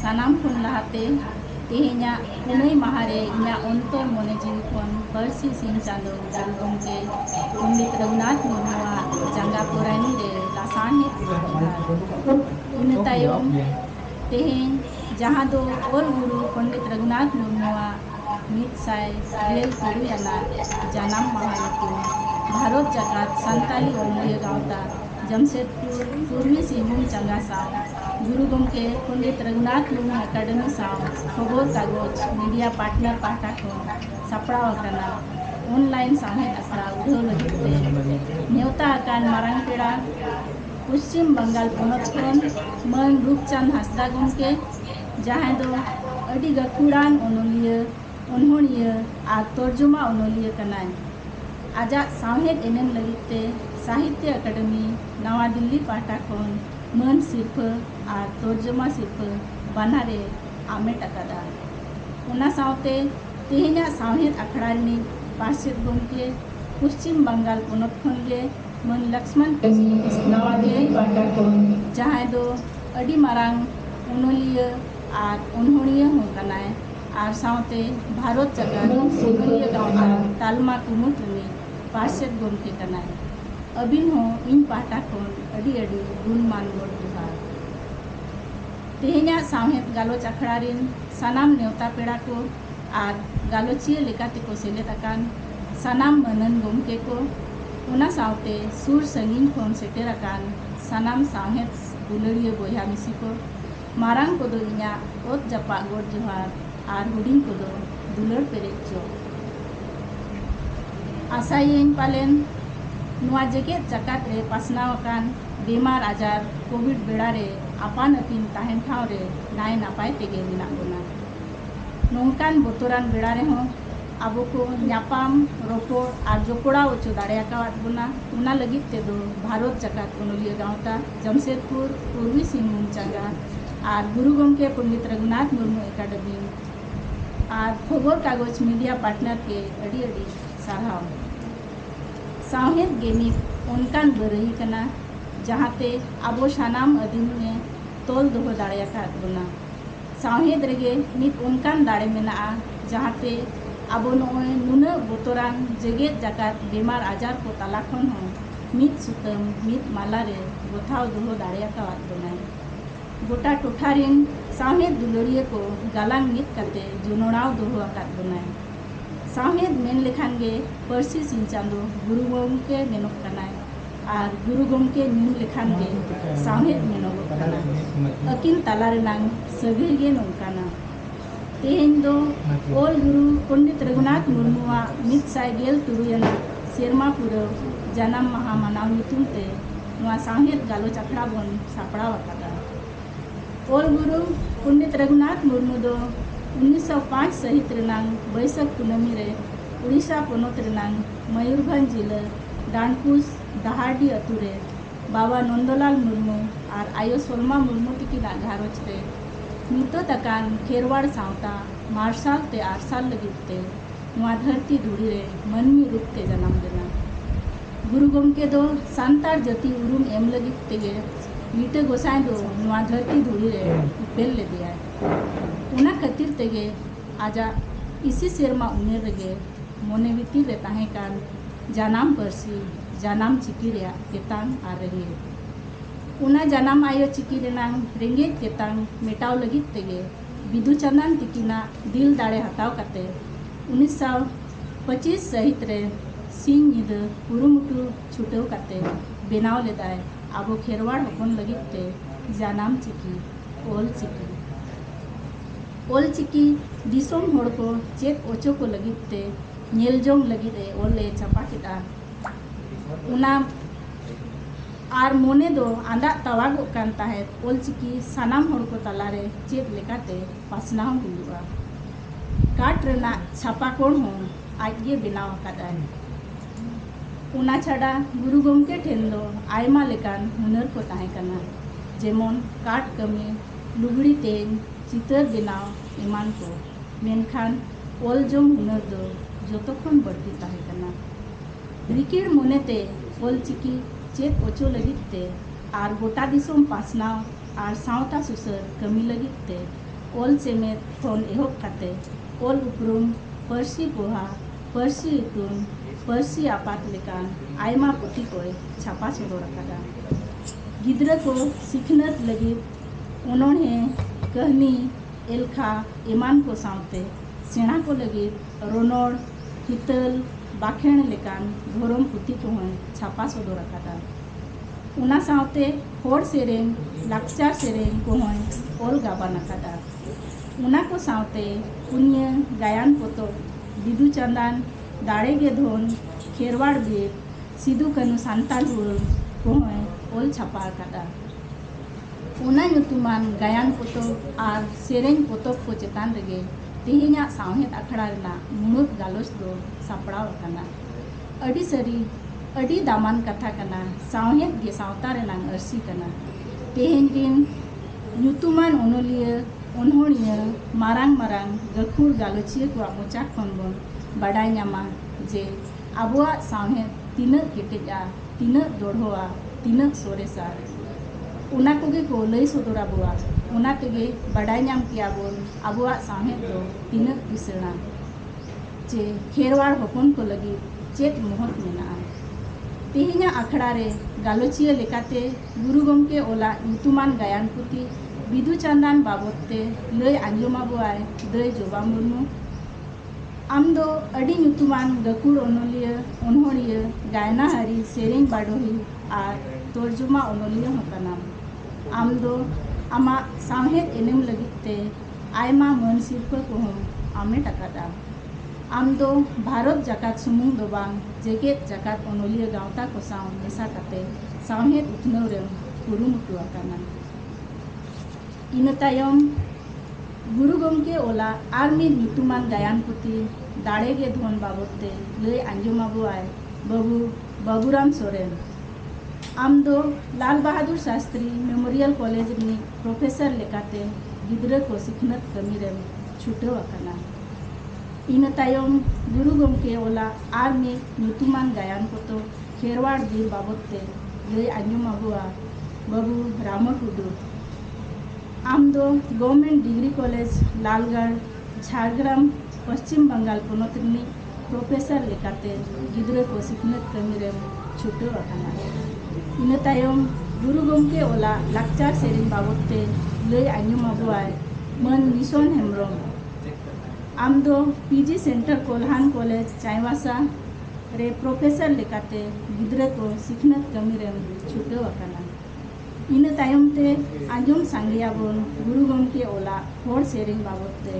ᱥᱟᱱᱟᱢ ᱠᱷᱚᱱ ᱞᱟᱦᱟᱛᱮ ᱛᱮᱦᱮᱧᱟᱜ ᱯᱩᱱᱟᱹᱭ ᱢᱟᱦᱟ ᱨᱮ ᱤᱧᱟᱹᱜ ᱚᱱᱛᱚᱨ ᱢᱚᱱᱮ ᱡᱤᱣᱤ ᱠᱷᱚᱱ ᱯᱟᱹᱨᱥᱤ ᱥᱤᱧ ᱪᱟᱸᱫᱚ ᱜᱩᱨᱩ ᱜᱚᱢᱠᱮ ᱯᱚᱱᱰᱤᱛ ᱨᱚᱜᱷᱩᱱᱟᱛᱷ ᱢᱩᱨᱢᱩᱣᱟᱜ ᱡᱟᱸᱜᱟ ᱯᱚᱨᱟᱭᱱᱤ ᱨᱮ ᱞᱟᱥᱟᱬᱦᱮᱫ ᱡᱚᱦᱟᱨ ᱤᱱᱟᱹ ᱛᱟᱭᱚᱢ ᱛᱮᱦᱮᱧ ᱡᱟᱦᱟᱸ ᱫᱚ ᱚᱞ ᱜᱩᱨᱩ ᱯᱚᱱᱰᱤᱛ ᱨᱚᱜᱷᱩᱱᱟᱛᱷ ᱢᱩᱨᱢᱩᱣᱟᱜ ᱢᱤᱫ ᱥᱟᱭ ᱜᱮᱞ ᱛᱩᱨᱩᱭ ᱟᱱᱟᱜ ᱡᱟᱱᱟᱢ ᱢᱟᱦᱟ ᱧᱩᱛᱩᱢ ᱵᱷᱟᱨᱚᱛ ᱡᱟᱠᱟᱛ ᱥᱟᱱᱛᱟᱲᱤ ᱚᱱᱚᱞᱤᱭᱟᱹ ᱜᱟᱶᱛᱟ ᱡᱟᱢᱥᱮᱫᱽᱯᱩᱨ ᱯᱩᱨᱵᱤ ᱥᱤᱝᱵᱷᱩᱢ ᱪᱟᱸᱜᱟ ᱥᱟᱶ ᱜᱩᱨᱩ ᱜᱚᱢᱠᱮ ᱯᱚᱱᱰᱤᱛ ᱨᱟᱹᱜᱷᱩᱱᱟᱛᱷ ᱢᱩᱨᱢᱩ ᱮᱠᱟᱰᱮᱢᱤ ᱥᱟᱶ ᱠᱷᱚᱵᱚᱨ ᱠᱟᱜᱚᱡᱽ ᱢᱤᱰᱤᱭᱟ ᱯᱟᱨᱴᱱᱟᱨ ᱯᱟᱦᱴᱟ ᱠᱷᱚᱱ ᱥᱟᱯᱲᱟᱣ ᱟᱠᱟᱱᱟ ᱚᱱᱞᱟᱭᱤᱱ ᱥᱟᱶᱦᱮᱫ ᱟᱥᱲᱟ ᱩᱰᱷᱟᱹᱣ ᱞᱟᱹᱜᱤᱫ ᱛᱮ ᱱᱮᱣᱛᱟ ᱟᱠᱟᱱ ᱢᱟᱨᱟᱝ ᱯᱮᱲᱟ ᱯᱚᱥᱪᱤᱢ ᱵᱟᱝᱜᱟᱞ ᱯᱚᱱᱚᱛ ᱠᱷᱚᱱ ᱢᱟᱹᱱ ᱨᱩᱯᱪᱟᱸᱫᱽ ᱦᱟᱸᱥᱫᱟ ᱜᱚᱢᱠᱮ ᱡᱟᱦᱟᱸᱭ ᱫᱚ ᱟᱹᱰᱤ ᱜᱟᱹᱠᱷᱩᱲᱟᱱ ᱚᱱᱚᱞᱤᱭᱟᱹ ᱚᱱᱚᱬᱦᱤᱭᱟᱹ ᱟᱨ ᱛᱚᱨᱡᱚᱢᱟ ᱚᱱᱚᱞᱤᱭᱟᱹ ᱠᱟᱱᱟᱭ ᱟᱡᱟᱜ ᱥᱟᱶᱦᱮᱫ ᱮᱱᱮᱢ ᱞᱟᱹᱜᱤᱫ ᱛᱮ ᱥᱟᱦᱤᱛᱭᱚ ᱟᱠᱟᱰᱮᱢᱤ ᱱᱟᱣᱟ ᱫᱤᱞᱞᱤ ᱯᱟᱦᱴᱟ ᱠᱷᱚᱱ ᱢᱟᱹᱱ ᱥᱤᱨᱯᱷᱟᱹ ᱟᱨ ᱛᱚᱨᱡᱚᱢᱟ ᱥᱤᱨᱯᱷᱟᱹ ᱵᱟᱱᱟᱨᱮ ᱟᱢᱮᱴ ᱟᱠᱟᱫᱟ ᱚᱱᱟ ᱥᱟᱶᱛᱮ ᱛᱮᱦᱮᱧᱟᱜ ᱥᱟᱶᱦᱮᱫ ᱟᱠᱷᱲᱟ ᱨᱤᱱᱤᱡ ᱯᱟᱨᱥᱮᱫ ᱜᱚᱢᱠᱮ ᱯᱚᱥᱪᱤᱢ ᱵᱟᱝᱜᱟᱞ ᱯᱚᱱᱚᱛ ᱠᱷᱚᱱ ᱜᱮ ᱢᱟᱹᱱ ᱞᱚᱠᱥᱢᱚᱱ ᱠᱤᱥᱠᱩ ᱱᱟᱣᱟ ᱫᱤᱞᱞᱤ ᱯᱟᱦᱴᱟ ᱠᱷᱚᱱ ᱡᱟᱦᱟᱸᱭ ᱫᱚ ᱟᱹᱰᱤ ᱢᱟᱨᱟᱝ ᱚᱱᱚᱞᱤᱭᱟᱹ ᱟᱨ ᱚᱱᱚᱬᱦᱤᱭᱟᱹ ᱦᱚᱸ ᱠᱟᱱᱟᱭ ᱟᱨ ᱥᱟᱶᱛᱮ ᱵᱷᱟᱨᱚᱛ ᱡᱟᱠᱟᱛ ᱚᱱᱚᱞᱤᱭᱟᱹ ᱜᱟᱶᱛᱟ ᱛᱟᱞᱢᱟ ᱠᱚ ᱢᱩᱫᱽ ᱨᱤᱱᱤᱡ ᱯᱟᱨᱥᱮᱛ ᱜᱚᱢᱠᱮ ᱠᱟᱱᱟᱭ ᱟᱹᱵᱤᱱ ᱦᱚᱸ ᱤᱧ ᱯᱟᱦᱴᱟ ᱠᱷᱚᱱ ᱟᱹᱰᱤ ᱟᱹᱰᱤ ᱜᱩᱱ ᱢᱟᱱ ᱜᱚᱰ ᱡᱚᱦᱟᱨ ᱛᱮᱦᱮᱧᱟᱜ ᱥᱟᱶᱦᱮᱫ ᱜᱟᱞᱚᱪ ᱟᱠᱷᱲᱟ ᱨᱤᱱ ᱥᱟᱱᱟᱢ ᱱᱮᱣᱛᱟ ᱯᱮᱲᱟ ᱠᱚ ᱟᱨ ᱜᱟᱞᱚᱪᱤᱭᱟᱹ ᱞᱮᱠᱟᱛᱮ ᱠᱚ ᱥᱮᱞᱮᱫ ᱟᱠᱟᱱ ᱥᱟᱱᱟᱢ ᱢᱟᱹᱱᱟᱱ ᱜᱚᱢᱠᱮ ᱠᱚ ᱚᱱᱟ ᱥᱟᱶᱛᱮ ᱥᱩᱨ ᱥᱟᱺᱜᱤᱧ ᱠᱷᱚᱱ ᱥᱮᱴᱮᱨ ᱟᱠᱟᱱ ᱥᱟᱱᱟᱢ ᱥᱟᱶᱦᱮᱫ ᱫᱩᱞᱟᱹᱲᱤᱭᱟᱹ ᱵᱚᱭᱦᱟ ᱢᱤᱥᱤ ᱠᱚ ᱢᱟᱨᱟᱝ ᱠᱚᱫᱚ ᱤᱧᱟᱹᱜ ᱚᱛ ᱡᱟᱯᱟᱜ ᱜᱚᱰ ᱡᱚᱦᱟᱨ ᱟᱨ ᱦᱩᱰᱤᱧ ᱠᱚᱫᱚ ᱫᱩᱞᱟᱹᱲ ᱯᱮᱨᱮᱡ ᱡᱚᱦ ᱟᱥᱟᱭᱟᱹᱧ ᱯᱟᱞᱮᱱ ᱱᱚᱣᱟ ᱡᱮᱜᱮᱛ ᱡᱟᱠᱟᱛ ᱨᱮ ᱯᱟᱥᱱᱟᱣ ᱟᱠᱟᱱ ᱵᱮᱢᱟᱨ ᱟᱡᱟᱨ ᱠᱳᱵᱷᱤᱰ ᱵᱮᱲᱟ ᱨᱮ ᱟᱯᱟᱱ ᱟᱹᱯᱤᱱ ᱛᱟᱦᱮᱱ ᱴᱷᱟᱶ ᱨᱮ ᱱᱟᱭ ᱱᱟᱯᱟᱭ ᱛᱮᱜᱮ ᱢᱮᱱᱟᱜ ᱵᱚᱱᱟ ᱱᱚᱝᱠᱟᱱ ᱵᱚᱛᱚᱨᱟᱱ ᱵᱮᱲᱟ ᱨᱮᱦᱚᱸ ᱟᱵᱚ ᱠᱚ ᱧᱟᱯᱟᱢ ᱨᱚᱯᱚᱲ ᱟᱨ ᱡᱚᱯᱚᱲᱟᱣ ᱚᱪᱚ ᱫᱟᱲᱮ ᱟᱠᱟᱣᱟᱫ ᱵᱚᱱᱟ ᱚᱱᱟ ᱞᱟᱹᱜᱤᱫ ᱛᱮᱫᱚ ᱵᱷᱟᱨᱚᱛ ᱡᱟᱠᱟᱛ ᱚᱱᱚᱞᱤᱭᱟᱹ ᱜᱟᱶᱛᱟ ᱡᱟᱢᱥᱮᱫᱽᱯᱩᱨ ᱯᱩᱨᱵᱤ ᱥᱤᱝᱵᱷᱩᱢ ᱪᱟᱸᱜᱟ ᱟᱨ ᱜᱩᱨᱩ ᱜᱚᱢᱠᱮ ᱯᱚᱱᱰᱤᱛ ᱨᱟᱹᱜᱷᱩᱱᱟᱛᱷ ᱢᱩᱨᱢᱩ ᱮᱠᱟᱰᱮᱢᱤ ᱟᱨ ᱠᱷᱚᱵᱚᱨ ᱠᱟᱜᱚᱡᱽ ᱢᱤᱰᱤᱭᱟ ᱯᱟᱨᱴᱱᱟᱨ ᱠᱮ ᱟᱹᱰᱤ ᱟᱹᱰᱤ ᱥᱟᱨᱦᱟᱣ ᱥᱟᱶᱦᱮᱫ ᱜᱮ ᱢᱤᱫ ᱚᱱᱠᱟᱱ ᱵᱟᱹᱨᱟᱹᱦᱤ ᱠᱟᱱᱟ ᱡᱟᱦᱟᱸᱛᱮ ᱟᱵᱚ ᱥᱟᱱᱟᱢ ᱟᱹᱫᱤᱢ ᱮ ᱛᱚᱞ ᱫᱚᱦᱚ ᱫᱟᱲᱮ ᱟᱠᱟᱫ ᱵᱚᱱᱟ ᱥᱟᱶᱦᱮᱫ ᱨᱮᱜᱮ ᱢᱤᱫ ᱚᱱᱠᱟᱱ ᱫᱟᱲᱮ ᱢᱮᱱᱟᱜᱼᱟ ᱡᱟᱦᱟᱸ ᱛᱮ ᱟᱵᱚ ᱱᱚᱜᱼᱚᱭ ᱱᱩᱱᱟᱹᱜ ᱵᱚᱛᱚᱨᱟᱱ ᱡᱮᱜᱮᱛ ᱡᱟᱠᱟᱛ ᱵᱮᱢᱟᱨ ᱟᱡᱟᱨ ᱠᱚ ᱛᱟᱞᱟ ᱠᱷᱚᱱ ᱦᱚᱸ ᱢᱤᱫ ᱥᱩᱛᱟᱹᱢ ᱢᱤᱫ ᱢᱟᱞᱟ ᱨᱮ ᱜᱚᱛᱷᱟᱣ ᱫᱚᱦᱚ ᱫᱟᱲᱮᱭᱟᱠᱟᱣᱟᱫ ᱵᱚᱱᱟᱭ᱾ ᱜᱚᱴᱟ ᱴᱚᱴᱷᱟ ᱨᱤᱱ ᱥᱟᱶᱦᱮᱫ ᱫᱩᱞᱟᱹᱲᱤᱭᱟᱹ ᱠᱚ ᱜᱟᱞᱟᱝ ᱢᱤᱫ ᱠᱟᱛᱮ ᱡᱚᱱᱚᱲᱟᱣ ᱫᱚᱦᱚ ᱟᱠᱟᱫ ᱵᱚᱱᱟᱭ᱾ ᱥᱟᱶᱦᱮᱫ ᱢᱮᱱ ᱞᱮᱠᱷᱟᱱ ᱜᱮ ᱯᱟᱹᱨᱥᱤ ᱥᱤᱧ ᱪᱟᱸᱫᱚ ᱜᱩᱨᱩ ᱜᱚᱢᱠᱮ ᱢᱮᱱᱚᱜ ᱠᱟᱱᱟᱭ ᱟᱨ ᱜᱩᱨᱩ ᱜᱚᱢᱠᱮ ᱧᱩᱢ ᱞᱮᱠᱷᱟᱱ ᱜᱮ ᱥᱟᱶᱦᱮᱫ ᱢᱮᱱᱚᱜᱚᱜ ᱠᱟᱱᱟ ᱟᱹᱠᱤᱱ ᱛᱟᱞᱟ ᱨᱮᱱᱟᱝ ᱥᱟᱹᱜᱟᱹᱭ ᱜᱮ ᱱᱚᱝᱠᱟᱱᱟ ᱛᱮᱦᱮᱧ ᱫᱚ ᱚᱞ ᱜᱩᱨᱩ ᱯᱚᱱᱰᱤᱛ ᱨᱚᱜᱷᱩᱱᱟᱛᱷ ᱢᱩᱨᱢᱩᱣᱟᱜ ᱢᱤᱫ ᱥᱟᱭ ᱜᱮᱞ ᱛᱩᱨᱩᱭ ᱟᱱᱟᱜ ᱥᱮᱨᱢᱟ ᱯᱩᱨᱟᱹᱣ ᱡᱟᱱᱟᱢ ᱢᱟᱦᱟ ᱢᱟᱱᱟᱣ ᱧᱩᱛᱩᱢ ᱛᱮ ᱱᱚᱣᱟ ᱥᱟᱶᱦᱮᱫ ᱜᱟᱞᱚᱪ ᱟᱠᱷᱲᱟ ᱵᱚᱱ ᱥᱟᱯᱲᱟᱣ ᱟᱠᱟᱫᱟ ᱚᱞᱜᱩᱨᱩ ᱯᱚᱱᱰᱤᱛ ᱨᱟᱹᱜᱷᱩᱱᱟᱛᱷ ᱢᱩᱨᱢᱩ ᱫᱚ ᱩᱱᱤᱥᱥᱚ ᱯᱟᱸᱪ ᱥᱟᱹᱦᱤᱛ ᱨᱮᱱᱟᱝ ᱵᱟᱹᱭᱥᱟᱹᱠ ᱠᱩᱱᱟᱹᱢᱤ ᱨᱮ ᱩᱲᱤᱥᱥᱟ ᱯᱚᱱᱚᱛ ᱨᱮᱱᱟᱝ ᱢᱚᱭᱩᱨᱵᱷᱚᱸᱡᱽ ᱡᱤᱞᱟᱹ ᱰᱟᱱᱰᱯᱩᱥ ᱫᱟᱦᱟᱨᱰᱤ ᱟᱹᱛᱩ ᱨᱮ ᱵᱟᱵᱟ ᱱᱚᱱᱫᱚᱞᱟᱞ ᱢᱩᱨᱢᱩ ᱟᱨ ᱟᱭᱳ ᱥᱚᱞᱢᱟ ᱢᱩᱨᱢᱩ ᱛᱤᱠᱤᱱᱟᱜ ᱜᱷᱟᱨᱚᱸᱡᱽ ᱨᱮ ᱧᱩᱛᱟᱹᱛ ᱟᱠᱟᱱ ᱠᱷᱮᱨᱣᱟᱲ ᱥᱟᱶᱛᱟ ᱢᱟᱨᱥᱟᱞ ᱛᱮ ᱟᱨᱥᱟᱞ ᱞᱟᱹᱜᱤᱫ ᱛᱮ ᱱᱚᱣᱟ ᱫᱷᱟᱹᱨᱛᱤ ᱫᱷᱩᱲᱤ ᱨᱮ ᱢᱟᱹᱱᱢᱤ ᱨᱩᱯ ᱛᱮ ᱡᱟᱱᱟᱢ ᱞᱮᱱᱟ᱾ ᱜᱩᱨᱩ ᱜᱚᱢᱠᱮ ᱫᱚ ᱥᱟᱱᱛᱟᱲ ᱡᱟᱹᱛᱤ ᱩᱨᱩᱢ ᱮᱢ ᱞᱟᱹᱜᱤᱫ ᱛᱮᱜᱮ ᱞᱤᱴᱟᱹ ᱜᱚᱸᱥᱟᱭ ᱫᱚ ᱱᱚᱣᱟ ᱫᱷᱟᱹᱨᱛᱤ ᱫᱷᱩᱲᱤ ᱨᱮ ᱩᱯᱮᱞ ᱞᱮᱫᱮᱭᱟᱭ᱾ ᱚᱱᱟ ᱠᱷᱟᱹᱛᱤᱨ ᱛᱮᱜᱮ ᱟᱡᱟᱜ ᱤᱥᱤ ᱥᱮᱨᱢᱟ ᱩᱢᱮᱨ ᱨᱮᱜᱮ ᱢᱚᱱᱮ ᱵᱷᱤᱛᱤᱨ ᱨᱮ ᱛᱟᱦᱮᱸ ᱠᱟᱱ ᱡᱟᱱᱟᱢ ᱯᱟᱹᱨᱥᱤ, ᱡᱟᱱᱟᱢ ᱪᱤᱠᱤ ᱨᱮᱭᱟᱜ ᱛᱮᱛᱟᱝ ᱟᱨ ᱨᱮᱸᱜᱮᱡ᱾ ᱚᱱᱟ ᱡᱟᱱᱟᱢ ᱟᱭᱳ ᱪᱤᱠᱤ ᱨᱮᱱᱟᱝ ᱨᱮᱸᱜᱮᱡ ᱛᱮᱛᱟᱝ ᱢᱮᱴᱟᱣ ᱞᱟᱹᱜᱤᱫ ᱛᱮᱜᱮ ᱵᱤᱫᱩᱼᱪᱟᱸᱫᱟᱱ ᱛᱤᱠᱤᱱᱟᱜ ᱫᱤᱞ ᱫᱟᱲᱮ ᱦᱟᱛᱟᱣ ᱠᱟᱛᱮ ᱩᱱᱤᱥ ᱥᱟᱭ ᱯᱚᱸᱪᱤᱥ ᱥᱟᱹᱦᱤᱛ ᱨᱮ ᱥᱤᱧ ᱧᱤᱫᱟᱹ ᱠᱩᱨᱩᱢᱩᱴᱩ ᱪᱷᱩᱴᱟᱹᱣ ᱠᱟᱛᱮ ᱵᱮᱱᱟᱣ ᱞᱮᱫᱟᱭ ᱟᱵᱚ ᱠᱷᱮᱨᱣᱟᱲ ᱦᱚᱯᱚᱱ ᱞᱟᱹᱜᱤᱫ ᱛᱮ ᱡᱟᱱᱟᱢ ᱪᱤᱠᱤ ᱚᱞ ᱪᱤᱠᱤ᱾ ᱚᱞ ᱪᱤᱠᱤ ᱫᱤᱥᱚᱢ ᱦᱚᱲ ᱠᱚ ᱪᱮᱫ ᱚᱪᱚ ᱠᱚ ᱞᱟᱹᱜᱤᱫ ᱛᱮ ᱧᱮᱞ ᱡᱚᱝ ᱞᱟᱹᱜᱤᱫ ᱮ ᱚᱞ ᱮ ᱪᱟᱯᱟ ᱠᱮᱫᱼᱟ᱾ ᱚᱱᱟ᱾ ᱟᱨ ᱢᱚᱱᱮ ᱫᱚ ᱟᱸᱫᱟᱜ ᱛᱟᱣᱟᱜᱚᱜ ᱠᱟᱱ ᱛᱟᱦᱮᱸᱫ ᱚᱞᱪᱤᱠᱤ ᱥᱟᱱᱟᱢ ᱦᱚᱲ ᱠᱚ ᱛᱟᱞᱟ ᱨᱮ ᱪᱮᱫ ᱞᱮᱠᱟᱛᱮ ᱯᱟᱥᱱᱟᱣ ᱦᱩᱭᱩᱜᱼᱟ᱾ ᱠᱟᱴ ᱨᱮᱱᱟᱜ ᱪᱷᱟᱯᱟᱠᱚᱲ ᱦᱚᱸ ᱟᱡ ᱜᱮ ᱵᱮᱱᱟᱣ ᱟᱠᱟᱫᱼᱟᱭ᱾ ᱚᱱᱟ ᱪᱷᱟᱰᱟ ᱜᱩᱨᱩ ᱜᱚᱢᱠᱮ ᱴᱷᱮᱱ ᱫᱚ ᱟᱭᱢᱟ ᱞᱮᱠᱟᱱ ᱦᱩᱱᱟᱹᱨ ᱠᱚ ᱛᱟᱦᱮᱸ ᱠᱟᱱᱟ, ᱡᱮᱢᱚᱱ ᱠᱟᱴ ᱠᱟᱹᱢᱤ, ᱞᱩᱜᱽᱲᱤ ᱛᱮᱧ, ᱪᱤᱛᱟᱹᱨ ᱵᱮᱱᱟᱣ ᱮᱢᱟᱱ ᱠᱚ᱾ ᱢᱮᱱᱠᱷᱟᱱ ᱚᱞ ᱡᱚᱝ ᱦᱩᱱᱟᱹᱨ ᱫᱚ ᱡᱚᱛᱚ ᱠᱷᱚᱱ ᱵᱟᱹᱲᱛᱤ ᱛᱟᱦᱮᱸ ᱠᱟᱱᱟ᱾ ᱨᱤᱠᱤᱲ ᱢᱚᱱᱮ ᱛᱮ ᱚᱞ ᱪᱤᱠᱤ ᱪᱮᱫ ᱚᱪᱚ ᱞᱟᱹᱜᱤᱫ ᱛᱮ ᱟᱨ ᱜᱚᱴᱟ ᱫᱤᱥᱚᱢ ᱯᱟᱥᱱᱟᱣ ᱟᱨ ᱥᱟᱶᱛᱟ ᱥᱩᱥᱟᱹᱨ ᱠᱟᱹᱢᱤ ᱞᱟᱹᱜᱤᱫ ᱛᱮ ᱚᱞ ᱪᱮᱢᱮᱫ ᱠᱷᱚᱱ ᱮᱦᱚᱵ ᱠᱟᱛᱮ ᱚᱞ ᱩᱯᱨᱩᱢ ᱯᱟᱹᱨᱥᱤ ᱯᱚᱦᱟ ᱯᱟᱹᱨᱥᱤ ᱤᱛᱩᱱ ᱯᱟᱹᱨᱥᱤ ᱟᱯᱟᱛ ᱞᱮᱠᱟᱱ ᱟᱭᱢᱟ ᱯᱩᱛᱷᱤ ᱠᱚᱭ ᱪᱷᱟᱯᱟ ᱥᱚᱫᱚᱨ ᱟᱠᱟᱫᱟ ᱜᱤᱫᱽᱨᱟᱹ ᱠᱚ ᱥᱤᱠᱷᱱᱟᱹᱛ ᱞᱟᱹᱜᱤᱫ ᱚᱱᱚᱬᱦᱮ ᱠᱟᱹᱦᱱᱤ ᱮᱞᱠᱷᱟ ᱮᱢᱟᱱ ᱠᱚ ᱥᱟᱶᱛᱮ ᱥᱮᱬᱟ ᱠᱚ ᱞᱟᱹᱜᱤᱫ ᱨᱚᱱᱚᱲ ᱦᱤᱛᱟᱹᱞ, ᱵᱟᱠᱷᱮᱬ ᱞᱮᱠᱟᱱ ᱫᱷᱚᱨᱚᱢ ᱯᱩᱛᱷᱤ ᱠᱚᱦᱚᱸᱭ ᱪᱷᱟᱯᱟ ᱥᱚᱫᱚᱨ ᱟᱠᱟᱫᱼᱟ᱾ ᱚᱱᱟ ᱥᱟᱶᱛᱮ ᱦᱚᱲ ᱥᱮᱨᱮᱧ, ᱞᱟᱠᱪᱟᱨ ᱥᱮᱨᱮᱧ ᱠᱚᱦᱚᱸᱭ ᱚᱞ ᱜᱟᱵᱟᱱ ᱟᱠᱟᱫᱼᱟ᱾ ᱚᱱᱟ ᱠᱚ ᱥᱟᱶᱛᱮ ᱯᱩᱱᱭᱟᱹ ᱜᱟᱭᱟᱱ ᱯᱚᱛᱚᱵ ᱵᱤᱫᱩ ᱪᱟᱸᱫᱟᱱ, ᱫᱟᱲᱮ ᱜᱮ ᱫᱷᱚᱱ, ᱠᱷᱮᱨᱣᱟᱲ ᱵᱤᱨ, ᱥᱤᱫᱩ ᱠᱟᱹᱱᱩ ᱥᱟᱱᱛᱟᱲ ᱦᱩᱲᱟᱹᱝ ᱠᱚᱦᱚᱸᱭ ᱚᱞ ᱪᱷᱟᱯᱟ ᱟᱠᱟᱫᱼᱟ᱾ ᱚᱱᱟ ᱧᱩᱛᱩᱢᱟᱱ ᱜᱟᱭᱟᱱ ᱯᱚᱛᱚᱵ ᱟᱨ ᱥᱮᱨᱮᱧ ᱯᱚᱛᱚᱵ ᱠᱚ ᱪᱮᱛᱟᱱ ᱨᱮᱜᱮ ᱛᱮᱦᱮᱧᱟᱜ ᱥᱟᱶᱦᱮᱫ ᱟᱠᱷᱲᱟ ᱨᱮᱱᱟᱜ ᱢᱩᱬᱩᱛ ᱜᱟᱞᱚᱪ ᱫᱚ ᱥᱟᱯᱲᱟᱣ ᱟᱠᱟᱱᱟ᱾ ᱟᱹᱰᱤ ᱥᱟᱹᱨᱤ, ᱟᱹᱰᱤ ᱫᱟᱢᱟᱱ ᱠᱟᱛᱷᱟ ᱠᱟᱱᱟ, ᱥᱟᱶᱦᱮᱫ ᱜᱮ ᱥᱟᱶᱛᱟ ᱨᱮᱱᱟᱝ ᱟᱹᱨᱥᱤ ᱠᱟᱱᱟ᱾ ᱛᱮᱦᱮᱧ ᱨᱤᱱ ᱧᱩᱛᱩᱢᱟᱱ ᱚᱱᱚᱞᱤᱭᱟᱹ, ᱚᱱᱦᱚᱬᱤᱭᱟᱹ, ᱢᱟᱨᱟᱝ ᱢᱟᱨᱟᱝ ᱜᱟᱹᱠᱷᱩᱲ ᱜᱟᱞᱚᱪᱤᱭᱟᱹ ᱠᱚᱣᱟᱜ ᱢᱚᱪᱟ ᱠᱷᱚᱱ ᱵᱚᱱ ᱵᱟᱰᱟᱭ ᱧᱟᱢᱟ ᱡᱮ ᱟᱵᱚᱣᱟᱜ ᱥᱟᱶᱦᱮᱫ ᱛᱤᱱᱟᱹᱜ ᱠᱮᱴᱮᱡᱼᱟ, ᱛᱤᱱᱟᱹᱜ ᱫᱚᱲᱦᱚᱣᱟ, ᱛᱤᱱᱟᱹᱜ ᱥᱚᱨᱮᱥᱟ᱾ ᱚᱱᱟ ᱠᱚᱜᱮ ᱠᱚ ᱞᱟᱹᱭ ᱥᱚᱫᱚᱨ ᱟᱵᱚᱣᱟ᱾ ᱚᱱᱟ ᱛᱮᱜᱮ ᱵᱟᱰᱟᱭ ᱧᱟᱢ ᱠᱮᱭᱟ ᱵᱚᱱ ᱟᱵᱚᱣᱟᱜ ᱥᱟᱶᱦᱮᱫ ᱫᱚ ᱛᱤᱱᱟᱹᱜ ᱠᱤᱥᱟᱹᱬᱟ ᱪᱮ ᱠᱷᱮᱨᱣᱟᱲ ᱦᱚᱯᱚᱱ ᱠᱚ ᱞᱟᱹᱜᱤᱫ ᱪᱮᱫ ᱢᱚᱦᱚᱛ ᱢᱮᱱᱟᱜᱼᱟ ᱛᱮᱦᱮᱧᱟᱜ ᱟᱠᱷᱲᱟ ᱨᱮ ᱜᱟᱞᱚᱪᱤᱭᱟᱹ ᱞᱮᱠᱟᱛᱮ ᱜᱩᱨᱩ ᱜᱚᱢᱠᱮ ᱚᱞᱟᱜ ᱧᱩᱛᱩᱢᱟᱱ ᱜᱟᱭᱟᱱ ᱯᱩᱛᱷᱤ ᱵᱤᱫᱩ ᱪᱟᱸᱫᱟᱱ ᱵᱟᱵᱚᱫ ᱛᱮ ᱞᱟᱹᱭ ᱟᱸᱡᱚᱢ ᱟᱵᱚᱣᱟᱭ ᱫᱟᱹᱭ ᱡᱚᱵᱟ ᱢᱩᱨᱢᱩ ᱟᱢ ᱫᱚ ᱟᱹᱰᱤ ᱧᱩᱛᱩᱢᱟᱱ ᱜᱟᱹᱠᱷᱩᱲ ᱚᱱᱚᱞᱤᱭᱟᱹ ᱚᱱᱚᱲᱤᱭᱟᱹ ᱜᱟᱭᱱᱟᱦᱟᱹᱨᱤ ᱥᱮᱨᱮᱧ ᱵᱟᱰᱚᱦᱤ ᱟᱨ ᱛᱚᱨᱡᱚᱢᱟ ᱚᱱᱚᱞᱤᱭᱟᱹ ᱦᱚᱸ ᱠᱟᱱᱟᱢ ᱟᱢ ᱫᱚ ᱟᱢᱟᱜ ᱥᱟᱶᱦᱮᱫ ᱮᱱᱮᱢ ᱞᱟᱹᱜᱤᱫ ᱛᱮ ᱟᱭᱢᱟ ᱢᱟᱹᱱ ᱥᱤᱨᱯᱟᱹ ᱠᱚᱦᱚᱸᱢ ᱟᱢᱮᱴ ᱟᱠᱟᱫᱟ ᱟᱢ ᱫᱚ ᱵᱷᱟᱨᱚᱛ ᱡᱟᱠᱟᱛ ᱥᱩᱢᱩᱝ ᱫᱚ ᱵᱟᱝ ᱡᱮᱜᱮᱛ ᱡᱟᱠᱟᱛ ᱚᱱᱚᱞᱤᱭᱟᱹ ᱜᱟᱶᱛᱟ ᱠᱚ ᱥᱟᱶ ᱢᱮᱥᱟ ᱠᱟᱛᱮ ᱥᱟᱶᱦᱮᱫ ᱩᱛᱱᱟᱹᱣ ᱨᱮᱢ ᱠᱩᱨᱩᱢᱩᱴᱩ ᱟᱠᱟᱱᱟ ᱤᱱᱟᱹ ᱛᱟᱭᱚᱢ ᱜᱩᱨᱩ ᱜᱚᱢᱠᱮ ᱚᱞᱟᱜ ᱟᱨ ᱢᱤᱫ ᱧᱩᱛᱩᱢᱟᱱ ᱜᱟᱭᱟᱱ ᱯᱩᱛᱷᱤ ᱫᱟᱲᱮ ᱜᱮ ᱫᱷᱚᱱ ᱵᱟᱵᱚᱫ ᱛᱮ ᱞᱟᱹᱭ ᱟᱸᱡᱚᱢ ᱟᱵᱚᱣᱟᱭ ᱵᱟᱹᱵᱩ ᱵᱟᱹᱵᱩᱨᱟᱢ ᱥᱚᱨᱮᱱ ᱟᱢ ᱫᱚ ᱞᱟᱞ ᱵᱟᱦᱟᱫᱩᱨ ᱥᱟᱥᱛᱨᱤ ᱢᱮᱢᱳᱨᱤᱭᱟᱞ ᱠᱚᱞᱮᱡᱽ ᱨᱤᱱᱤᱡ ᱯᱨᱚᱯᱷᱮᱥᱚᱨ ᱞᱮᱠᱟᱛᱮ ᱜᱤᱫᱽᱨᱟᱹ ᱠᱚ ᱥᱤᱠᱷᱱᱟᱹᱛ ᱠᱟᱹᱢᱤ ᱨᱮᱢ ᱪᱷᱩᱴᱟᱹᱣ ᱟᱠᱟᱱᱟ᱾ ᱤᱱᱟᱹ ᱛᱟᱭᱚᱢ ᱜᱩᱨᱩ ᱜᱚᱢᱠᱮ ᱚᱞᱟᱜ ᱟᱨ ᱢᱤᱫ ᱧᱩᱛᱩᱢᱟᱱ ᱜᱟᱭᱟᱱ ᱯᱚᱛᱚᱵ ᱠᱷᱮᱨᱣᱟᱲ ᱵᱤᱨ ᱵᱟᱵᱚᱛ ᱛᱮ ᱞᱟᱹᱭ ᱟᱸᱡᱚᱢ ᱟᱵᱚᱣᱟ ᱵᱟᱹᱵᱩ ᱨᱟᱢᱚ ᱴᱩᱰᱩ᱾ ᱟᱢ ᱫᱚ government degree college Lalgarh, Jhargram, Paschim Bangal ᱯᱚᱱᱚᱛ ᱨᱤᱱᱤᱡ ᱯᱨᱚᱯᱷᱮᱥᱚᱨ ᱞᱮᱠᱟᱛᱮ ᱜᱤᱫᱽᱨᱟᱹ ᱠᱚ ᱥᱤᱠᱷᱱᱟᱹᱛ ᱠᱟᱹᱢᱤ ᱨᱮ ᱪᱷᱩᱴᱟᱹᱣ ᱟᱠᱟᱱᱟ ᱤᱱᱟᱹ ᱛᱟᱭᱚᱢ ᱜᱩᱨᱩ ᱜᱚᱢᱠᱮ ᱚᱞᱟᱜ ᱞᱟᱠᱪᱟᱨ ᱥᱮᱨᱮᱧ ᱵᱟᱵᱚᱫ ᱛᱮ ᱞᱟᱹᱭ ᱟᱸᱡᱚᱢ ᱟᱵᱚᱣᱟᱭ ᱢᱟᱹᱱ ᱢᱤᱥᱚᱱ ᱦᱮᱢᱵᱨᱚᱢ ᱟᱢ ᱫᱚ PG centre Kolhan college Chaibasa ᱨᱮ ᱯᱨᱚᱯᱷᱮᱥᱚᱨ ᱞᱮᱠᱟᱛᱮ ᱜᱤᱫᱽᱨᱟᱹ ᱠᱚ ᱥᱤᱠᱷᱱᱟᱹᱛ ᱠᱟᱹᱢᱤ ᱨᱮᱢ ᱪᱷᱩᱴᱟᱹᱣ ᱟᱠᱟᱱᱟ ᱤᱱᱟᱹ ᱛᱟᱭᱚᱢ ᱛᱮ ᱟᱸᱡᱚᱢ ᱥᱟᱸᱜᱮᱭᱟᱵᱚᱱ ᱜᱩᱨᱩ ᱜᱚᱢᱠᱮ ᱚᱞᱟᱜ ᱦᱚᱲ ᱥᱮᱨᱮᱧ ᱵᱟᱵᱚᱫ ᱛᱮ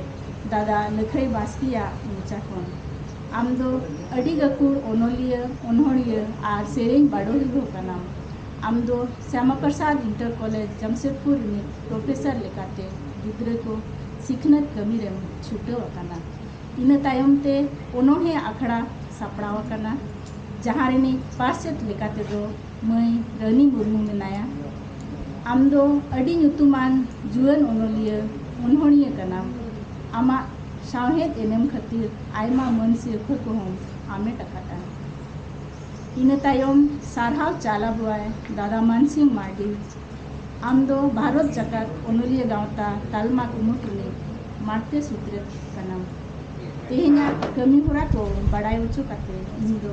ᱫᱟᱫᱟ ᱞᱟᱹᱠᱷᱟᱹᱭ ᱵᱟᱥᱠᱮᱭᱟᱜ ᱢᱚᱪᱟ ᱠᱷᱚᱱ ᱟᱢ ᱫᱚ ᱟᱹᱰᱤ ᱜᱟᱹᱠᱷᱩᱲ ᱚᱱᱚᱞᱤᱭᱟᱹ ᱚᱱᱚᱲᱦᱤᱭᱟᱹ ᱟᱨ ᱥᱮᱨᱮᱧ ᱵᱟᱰᱚᱦᱤ ᱦᱚᱸ ᱠᱟᱱᱟᱢ ᱟᱢ ᱫᱚ ᱥᱭᱟᱢᱟ ᱯᱨᱚᱥᱟᱫᱽ ᱤᱱᱴᱟᱨ ᱠᱚᱞᱮᱡᱽ ᱡᱟᱢᱥᱮᱫᱽᱯᱩᱨ ᱨᱤᱱᱤᱡ ᱯᱨᱚᱯᱷᱮᱥᱚᱨ ᱞᱮᱠᱟᱛᱮ ᱜᱤᱫᱽᱨᱟᱹ ᱠᱚ ᱥᱤᱠᱷᱱᱟᱹᱛ ᱠᱟᱹᱢᱤ ᱨᱮᱢ ᱪᱷᱩᱴᱟᱹᱣ ᱟᱠᱟᱱᱟ ᱤᱱᱟᱹ ᱛᱟᱭᱚᱢ ᱛᱮ ᱚᱱᱚᱲᱦᱮ ᱟᱠᱷᱲᱟ ᱥᱟᱯᱲᱟᱣ ᱟᱠᱟᱱᱟ ᱡᱟᱦᱟᱸ ᱨᱤᱱᱤᱡ ᱯᱟᱨᱥᱮᱛ ᱞᱮᱠᱟᱛᱮ ᱫᱚ ᱢᱟᱹᱭ ᱨᱟᱹᱱᱤ ᱢᱩᱨᱢᱩ ᱢᱮᱱᱟᱭᱟ ᱟᱢ ᱫᱚ ᱟᱹᱰᱤ ᱧᱩᱛᱩᱢᱟᱱ ᱡᱩᱣᱟᱹᱱ ᱚᱱᱚᱞᱤᱭᱟᱹ ᱚᱱᱚᱬᱦᱤᱭᱟᱹ ᱠᱟᱱᱟᱢ ᱟᱢᱟᱜ ᱥᱟᱶᱦᱮᱫ ᱮᱱᱮᱢ ᱠᱷᱟᱹᱛᱤᱨ ᱟᱭᱢᱟ ᱢᱟᱹᱱ ᱥᱤᱨᱯᱷᱟᱹ ᱠᱚᱦᱚᱸ ᱟᱢᱮᱴ ᱟᱠᱟᱫᱟ ᱤᱱᱟᱹ ᱛᱟᱭᱚᱢ ᱥᱟᱨᱦᱟᱣ ᱪᱟᱞ ᱟᱵᱚᱣᱟᱭ ᱫᱟᱫᱟ ᱢᱟᱱᱥᱤᱝ ᱢᱟᱨᱰᱤ ᱟᱢ ᱫᱚ ᱵᱷᱟᱨᱚᱛ ᱡᱟᱠᱟᱛ ᱚᱱᱚᱞᱤᱭᱟᱹ ᱜᱟᱶᱛᱟ ᱛᱟᱞᱢᱟ ᱠᱩᱢᱩᱴ ᱨᱤᱱᱤᱡ ᱢᱟᱬᱛᱮ ᱥᱩᱛᱨᱮᱛ ᱠᱟᱱᱟᱢ ᱛᱮᱦᱮᱧᱟᱜ ᱠᱟᱹᱢᱤ ᱦᱚᱨᱟ ᱠᱚ ᱵᱟᱲᱟᱭ ᱚᱪᱚ ᱠᱟᱛᱮ ᱤᱧ ᱫᱚ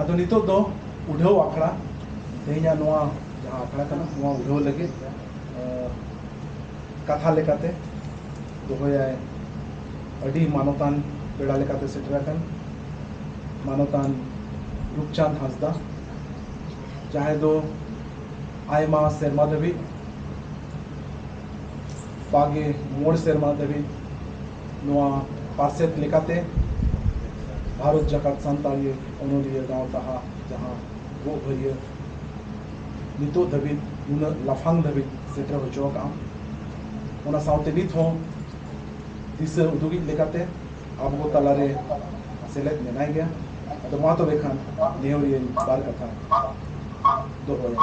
ᱟᱫᱚ ᱱᱤᱛᱚᱜ ᱫᱚ ᱩᱰᱷᱟᱹᱣ ᱟᱠᱷᱲᱟ ᱛᱮᱦᱮᱧᱟᱜ ᱱᱚᱣᱟ ᱡᱟᱦᱟᱸ ᱟᱠᱷᱲᱟ ᱠᱟᱱᱟ ᱱᱚᱣᱟ ᱩᱰᱷᱟᱹᱣ ᱞᱟᱹᱜᱤᱫ ᱠᱟᱛᱷᱟ ᱞᱮᱠᱟᱛᱮ ᱫᱚᱦᱚᱭᱟᱭ ᱟᱹᱰᱤ ᱢᱟᱱᱚᱛᱟᱱ ᱯᱮᱲᱟ ᱞᱮᱠᱟᱛᱮ ᱥᱮᱴᱮᱨ ᱟᱠᱟᱱ ᱢᱟᱱᱚᱛᱟᱱ ᱨᱩᱯᱪᱟᱸᱫᱽ ᱦᱟᱸᱥᱫᱟ ᱡᱟᱦᱟᱸᱭ ᱫᱚ ᱟᱭᱢᱟ ᱥᱮᱨᱢᱟ ᱫᱷᱟᱹᱵᱤᱡ ᱵᱟᱜᱮ ᱢᱚᱬ ᱥᱮᱨᱢᱟ ᱫᱷᱟᱹᱵᱤᱡ ᱱᱚᱣᱟ ᱯᱟᱨᱥᱮᱛ ᱞᱮᱠᱟᱛᱮ ᱵᱷᱟᱨᱚᱛ ᱡᱟᱠᱟᱛ ᱥᱟᱱᱛᱟᱲᱤ ᱚᱱᱚᱞᱤᱭᱟᱹ ᱜᱟᱶᱛᱟ ᱦᱟᱜ ᱡᱟᱦᱟᱸ ᱜᱚᱜ ᱵᱷᱟᱹᱨᱭᱟᱹ ᱱᱤᱛᱚᱜ ᱫᱷᱟᱹᱵᱤᱡ ᱱᱩᱱᱟᱹᱜ ᱞᱟᱯᱷᱟᱝ ᱫᱷᱟᱹᱵᱤᱡ ᱥᱮᱴᱮᱨ ᱦᱚᱪᱚ ᱟᱠᱟᱫᱼᱟ ᱚᱱᱟ ᱥᱟᱶᱛᱮ ᱱᱤᱛ ᱦᱚᱸ ᱫᱤᱥᱟᱹ ᱩᱫᱩᱜᱤᱡ ᱞᱮᱠᱟᱛᱮ ᱟᱵᱚ ᱠᱚ ᱛᱟᱞᱟᱨᱮ ᱥᱮᱞᱮᱫ ᱢᱮᱱᱟᱭ ᱜᱮᱭᱟ ᱟᱫᱚ ᱢᱟ ᱛᱚᱵᱮ ᱠᱷᱟᱱ ᱱᱮᱦᱚᱨᱤᱭᱟᱹᱧ ᱵᱟᱨ ᱠᱟᱛᱷᱟ ᱫᱚᱦᱚᱭᱟ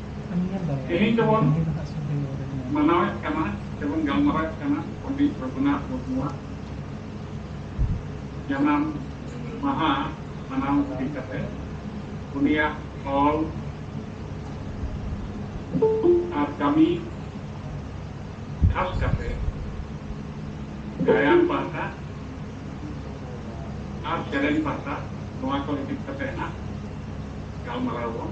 ᱛᱮᱦᱮᱧ ᱫᱚᱵᱚᱱ ᱢᱟᱱᱟᱣᱮᱫ ᱠᱟᱱᱟ ᱥᱮᱵᱚᱱ ᱜᱟᱞᱢᱟᱨᱟᱣᱮᱫ ᱠᱟᱱᱟ ᱯᱚᱱᱰᱤᱛ ᱨᱚᱜᱷᱩᱱᱟᱛᱷ ᱢᱩᱨᱢᱩᱣᱟᱜ ᱡᱟᱱᱟᱢ ᱢᱟᱦᱟ ᱢᱟᱱᱟᱣ ᱤᱫᱤ ᱠᱟᱛᱮ ᱩᱱᱤᱭᱟᱜ ᱚᱞ ᱟᱨ ᱠᱟᱹᱢᱤ ᱠᱷᱟᱥ ᱠᱟᱛᱮ ᱜᱟᱭᱟᱱ ᱯᱟᱦᱴᱟ ᱟᱨ ᱥᱮᱨᱮᱧ ᱯᱟᱦᱴᱟ ᱱᱚᱣᱟ ᱠᱚ ᱤᱫᱤ ᱠᱟᱛᱮ ᱦᱟᱸᱜ ᱜᱟᱞᱢᱟᱨᱟᱣ ᱵᱚᱱ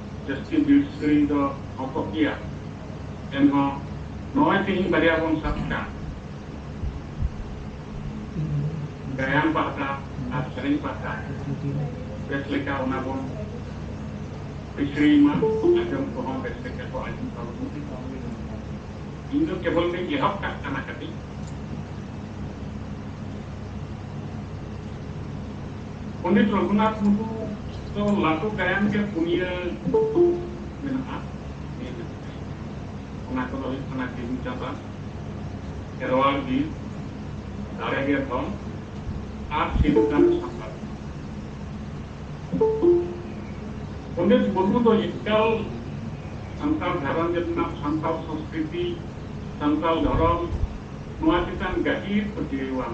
ᱡᱟᱹᱥᱛᱤ ᱵᱤᱨ ᱥᱩᱠᱨᱤ ᱫᱚ ᱦᱚᱯᱚᱜ ᱜᱮᱭᱟ ᱮᱱᱦᱚᱸ ᱱᱚᱜᱼᱚᱭ ᱛᱮᱦᱮᱧ ᱵᱟᱨᱭᱟ ᱵᱚᱱ ᱥᱟᱵ ᱠᱟᱜ ᱜᱟᱭᱟᱱ ᱯᱟᱦᱴᱟ ᱟᱨ ᱥᱮᱨᱮᱧ ᱯᱟᱦᱴᱟ ᱵᱮᱥ ᱞᱮᱠᱟ ᱚᱱᱟ ᱵᱚᱱ ᱯᱤᱪᱷᱲᱤᱭ ᱢᱟ ᱟᱸᱡᱚᱢ ᱠᱚᱦᱚᱸ ᱵᱮᱥ ᱞᱮᱠᱟ ᱠᱚ ᱟᱸᱡᱚᱢ ᱛᱟᱵᱚᱱ ᱢᱟ ᱤᱧ ᱫᱚ ᱠᱮᱵᱚᱞ ᱫᱚᱧ ᱮᱦᱚᱵ ᱠᱟᱜ ᱠᱟᱱᱟ ᱠᱟᱹᱴᱤᱡ ᱯᱚᱱᱰᱤᱛ ᱨᱚᱜᱷᱩᱱᱟᱛᱷ ᱢᱩᱨᱢᱩ ᱫᱚ ᱞᱟᱹᱴᱩ ᱜᱟᱭᱟᱱ ᱜᱮ ᱯᱩᱱᱭᱟᱹ ᱫᱩᱠ ᱢᱮᱱᱟᱜᱼᱟ ᱱᱤᱭᱟᱹ ᱜᱮ ᱥᱮᱨᱮᱧ ᱚᱱᱟ ᱠᱚᱫᱚ ᱦᱩᱭᱩᱜ ᱠᱟᱱᱟ ᱡᱤᱣᱤ ᱪᱟᱸᱫᱟ ᱠᱷᱮᱨᱣᱟᱲ ᱵᱤᱨ ᱫᱟᱲᱮ ᱜᱮ ᱫᱷᱚᱱ ᱟᱨ ᱥᱤᱫᱩ ᱠᱟᱹᱱᱦᱩ ᱥᱟᱱᱛᱟᱲ ᱯᱚᱱᱰᱤᱛ ᱢᱩᱨᱢᱩ ᱫᱚ ᱮᱠᱟᱞ ᱥᱟᱱᱛᱟᱲ ᱜᱷᱟᱨᱚᱸᱡᱽ ᱨᱮᱱᱟᱜ ᱥᱟᱱᱛᱟᱲ ᱥᱚᱸᱥᱠᱨᱤᱛᱤ ᱥᱟᱱᱛᱟᱲ ᱫᱷᱚᱨᱚᱢ ᱱᱚᱣᱟ ᱪᱮᱛᱟᱱ ᱜᱟᱹᱦᱤᱨ ᱯᱟᱹᱛᱭᱟᱹᱣᱟᱱ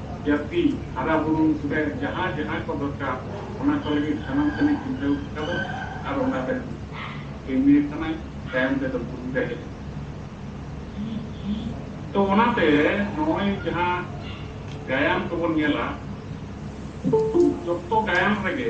ᱡᱟᱹᱛᱤ ᱦᱟᱨᱟ ᱵᱩᱨᱩ ᱨᱮ ᱡᱟᱦᱟᱸ ᱡᱟᱦᱟᱸ ᱠᱚ ᱫᱚᱨᱠᱟᱨ ᱚᱱᱟ ᱠᱚ ᱞᱟᱹᱜᱤᱫ ᱥᱟᱱᱟᱢ ᱥᱮᱱᱮ ᱪᱤᱱᱛᱟᱹ ᱟᱠᱟᱫᱟ ᱟᱨ ᱚᱱᱟ ᱨᱮ ᱠᱟᱹᱢᱤ ᱟᱠᱟᱱᱟᱭ ᱛᱟᱭᱚᱢ ᱛᱮᱫᱚ ᱵᱩᱨᱩ ᱨᱮ ᱦᱮᱡ ᱮᱱᱟ ᱛᱚ ᱚᱱᱟ ᱛᱮ ᱱᱚᱜᱼᱚᱭ ᱡᱟᱦᱟᱸ ᱜᱟᱭᱟᱱ ᱠᱚᱵᱚᱱ ᱧᱮᱞᱟ ᱡᱚᱛᱚ ᱜᱟᱭᱟᱱ ᱨᱮᱜᱮ